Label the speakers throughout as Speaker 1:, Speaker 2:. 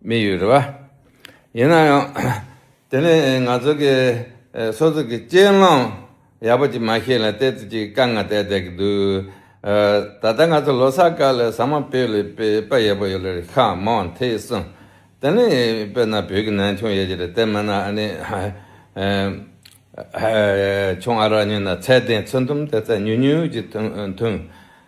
Speaker 1: མི་ཡོད་རེད་བ། ཡིན་ན་ཡང། དེ་ནི་ང་ཚོ་གི་སོ་སོ་གི་སྤྱན་ལམ་ཡག་པོ་ཅིག་མ་ཤེས་ལ་བལྟས་ཚོད་ཅིག་དཀའ་ངལ་བལྟས་བསྡད་ཀྱི་འདུག། ད་ལྟ་ང་ཚོ་ལོ་སར་སྐབས་ལས་ཟ་མ་བེད་ལས་པའི་དཔེ་ཡག་པོ་ཡོད་ལ་རིགས་ཁག་མང་བ་འཐད་གསུངས། དེ་ནི་དཔེར་ན་བོད་ཀྱི་ནང་ཆུང་ཡོད་ཀྱི་རེད་དེ་མིན་ན་ཨ་ནེ། ཆུང་ཨ་རག་གཉིས་ན་ཚད་ལྡན་ཚོད་འདུམ་དེ་ཚད་ཉུང་ཉུང་ཅིག་འཐུང།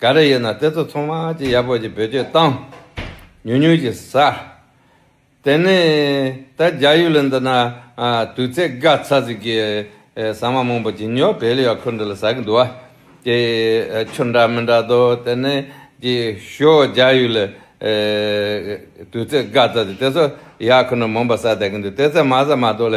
Speaker 1: ག་རེ་ཡོད་ན་དེ་ཚོ་ཚང་མ་ཅི་ཡག་པོ་ཞིག་བེད་སྤྱོད་བཏང། ཉུང་ཉུང་ཞིག་ཟ། དེ་ནས་ད་རྒྱ་ཡུལ་ལ་འདི་ན་དུས་ཚད་དགའ་ཚ་ཟིག་གི་ཟ་མ་མང་པོ་ཇི་ཉོ་བེད་ལ་ཡོད་ཁུལ་འདི་ལ་ཟ་གི་འདུག་ཀྱེ། ཆུ་འདྲ་མི་འདྲ་དོ་དེ་ནས་ཀྱེ་ཞོ་རྒྱ་ཡུལ་ལ་དུས་ཚད་དགའ་ཚ་ཟིག་དེ་ཚོ་ཡག་ཁུལ་འདི་མང་པོ་ཟ་བསྡད་ཀྱི་འདུག་དེ་ཚད་མ་ཟ་མ་ཏོག་ལ་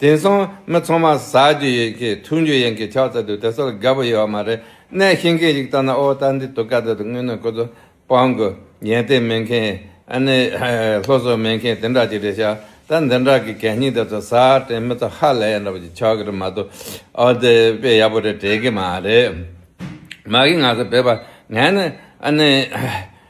Speaker 1: དེང་སང་མི་ཚང་མ་ཟ་རྒྱུ་ཡིན་གྱི་འཐུང་རྒྱུ་ཡིན་གྱི་ཆགས་ཚར་དུས་དེ་ཚོར་དགའ་པོ་ཡོད་བ་མ་རེད་གནས་ཤིང་མཁན་ཞིག་ལྟ་ན་ཨོ་ད་འདི་དུ་ཀ་ད་དུ་དངོས་གནས་ཁོ་ཚོ་སྤང་དགོས་ཉལ་སྟེགས་མེད་མཁན་ཨ་ནེ་ལྷོ་སོག་མེད་མཁན་དེ་འདྲ་ཅིག་རེད་ཤག་ད་འདི་འདྲ་གི་གད་སྙིགས་དེ་ཚོ་ཟ་དྲན་མི་ཚོ་ཧ་ལས་ཡག་འདྲ་པོ་ཅིག་ཆགས་གི་རེད་མ་གཏོགས་ཨོ་དེ་དཔེ་ཡག་པོ་རེད་དྲན་གི་མ་རེད་མ་གིས་ང་ཚོ་བོད་པ་ངས་ནི་ཨ་ནེ།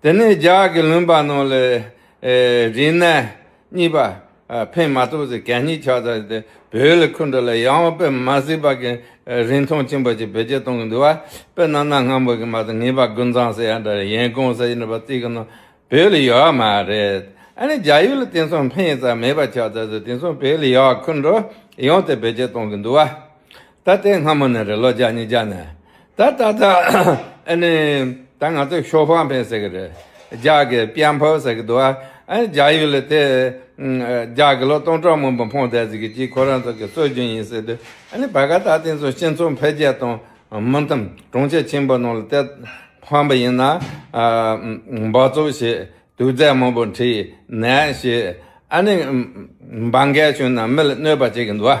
Speaker 1: དེ་ནས་ལྗགས་ཀྱི་ལུང་པ་རྣམས་ལས། རིག་གནས་གཉིས་པ། ཕན་མ་ཐོགས་ཚེ་གད་སྙིགས་ཆགས་ཚར་ཏེ་བོད་ལ་འཁོད་འགྲོ་ལ་ཡང་བ་དཔེ་མ་གཟིགས་པ་གི་རིན་ཐང་ཆེན་པོ་ཅིག་བེད་སྤྱད་གཏོང་གི་འདུག་བ་དཔེ་ནང་ན་སྔ་མོ་གི་མ་ཚད་ངེས་པ་དགུན་ཚང་ཟེར་ཡ་འདྲ་རེད་ཡན་གོང་ཟེར་ཡ་འདྲ་བ་རྩིས་ཀྱི་ནང་བོད་ལ་ཡོད་བ་མ་རེད་ཨ་ནི་ལྗགས་ཡུལ་ལ་དེང་སང་ཕན་ཡོད་ཙམ་མེད་པ་ཆགས་ཚར་ཚེ་དེང་སང་བོད་ལ་ཡང་བ་འཁོད་འགྲོ་ཡང་དེ་བེད་སྤྱད་གཏོང་གི་འདུག་བ་ད་དེ་སྔ་མོ་ནས་རེད་ལོ་ལྗགས་གཉིས་ལྗགས་ནས་ད་ད་ད། ཨ་ནི། ད་ང་ཚོས་ཤོ་ཕང་ཕན་ཟེར་གི་རེད། རྒྱ་གི་པྱན་ཕོ་ཟེར་གི་འདུག་ཨ། རྒྱ་ཡུལ་ལ་དེ། རྒྱ་གི་ལོ་སྟོང་ཕྲག་མང་པོ་འཕོངས་བསྡད་ཟིག་གི་གྱིས་ཁོ་རང་ཚོ་གི་སྲོལ་རྒྱུན་ཡིན་ཟེར་དུས་ཨ་ནི་བད་ག་ད་དེ་ཚོ་སྤྱི་ཚོགས་འཕེལ་རྒྱས་དང་མི་འཚམ་གྲོང་ཁྱེར་ཆེན་པོ་ནང་ལ་དེ་ཕང་པ་ཡིན་ན། འབག་བཙོག་བྱས་དུག་རྫས་མང་པོ་འཁྲིད་ནས་བྱས་ཨ་ནི། འབག་འགས་བྱུང་ན་མི་ལ་གནོད་པ་བྱེད་གི་འདུག་ཨ།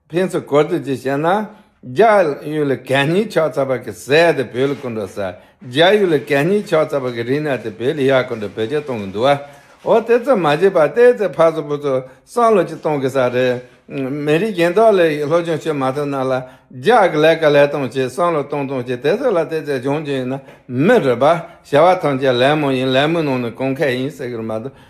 Speaker 1: ཕན་ཚུན་གོ་བསྡུར་གྱིས་བཤད་ན། རྒྱ་ཡུལ་ལ་གད་སྙིགས་ཕྱག་འཚལ་བར་གྱི་ཟས་དེ་བོད་ལ་སྐུར་འགྲོ་ཟ། རྒྱ་ཡུལ་ལ་གད་སྙིགས་ཕྱག་འཚལ་བར་གྱི་རིག་གནས་དེ་བོད་ལ་ཡར་སྐུར་འགྲོ་བོད་ཆས་གཏོང་གི་འདུག་ཨ། འོ་དེ་ཙམ་མ་བྱས་པར་བལྟས་ཚེ་ཕར་ཚུར་ཕུར་ཚུར་བསམ་བློ་ཅིག་གཏོང་དགོས་ས་རེད། མི་རིགས་གཞན་དག་ལས་སློབ་སྦྱོང་བྱེད་མ་ཐུབ་ན་ལ་རྒྱ་གི་ལས་ཀ་ལས་གཏོང་བྱེད་བསམ་བློ་གཏོང་གཏོང་བྱེད་དེ་ཚོ་ལ་བལྟས་ཚེ་སྦྱོང་རྒྱུ་ཡིན་ན་མི་རེད་པ། བྱ་བ་ཐམས་ཅད་ལད་མོ་ཡིན་ལད་མོའི་ནང་ནས་གོང་ཁེ་ཡིན་ཟེར་གི་རེད་མ་གཏོགས་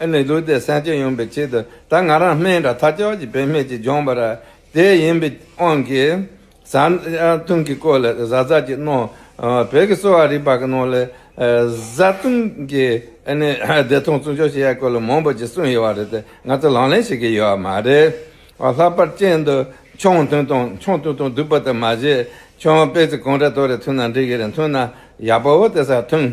Speaker 1: ཨེ་ནི་ལུས་དེ་སེམས་ཅན་ཡོང་པའི་ཆེད་དུ་ད་ང་རང་སྨན་དང་ཐབས་སྦྱོར་གྱི་བེད་མེད་ཅིག་སྦྱོང་པ་ར་དེ་ཡིན་པའི་དབང་གིས། ཟ་བཏུང་གི་སྐོར་ལས་བཟའ་ཟ་གྱི་ནོར། བོད་ཀྱི་གསོ་བ་རིག་པ་གི་ནོར་ལས། བཟའ་བཏུང་གི་ཨེ་ནི་བདེ་ཐང་བཙུན་ཆོག་བྱེད་ཡ་སྐོར་ལ་མང་པོ་ཅིག་གསུངས་ཡོད་བ་རེད་དེ་ང་ཚོ་ལང་ལེན་བྱེད་ཀྱི་ཡོད་བ་མ་རེད། ལྷག་པར་ཅན་དུ་ཆང་འཐུང་དང་ཆང་བཏུང་དང་བསྡུ་བ་དེ་མ་བྱེད། ཆང་སྤེ་ཚེ་གང་དྲ་ཐོ་རེ་འཐུང་ན་འགྲིག་གི་རེད་འཐུང་ན་ཡག་པོ་བོ་དེ་སར་འཐུང།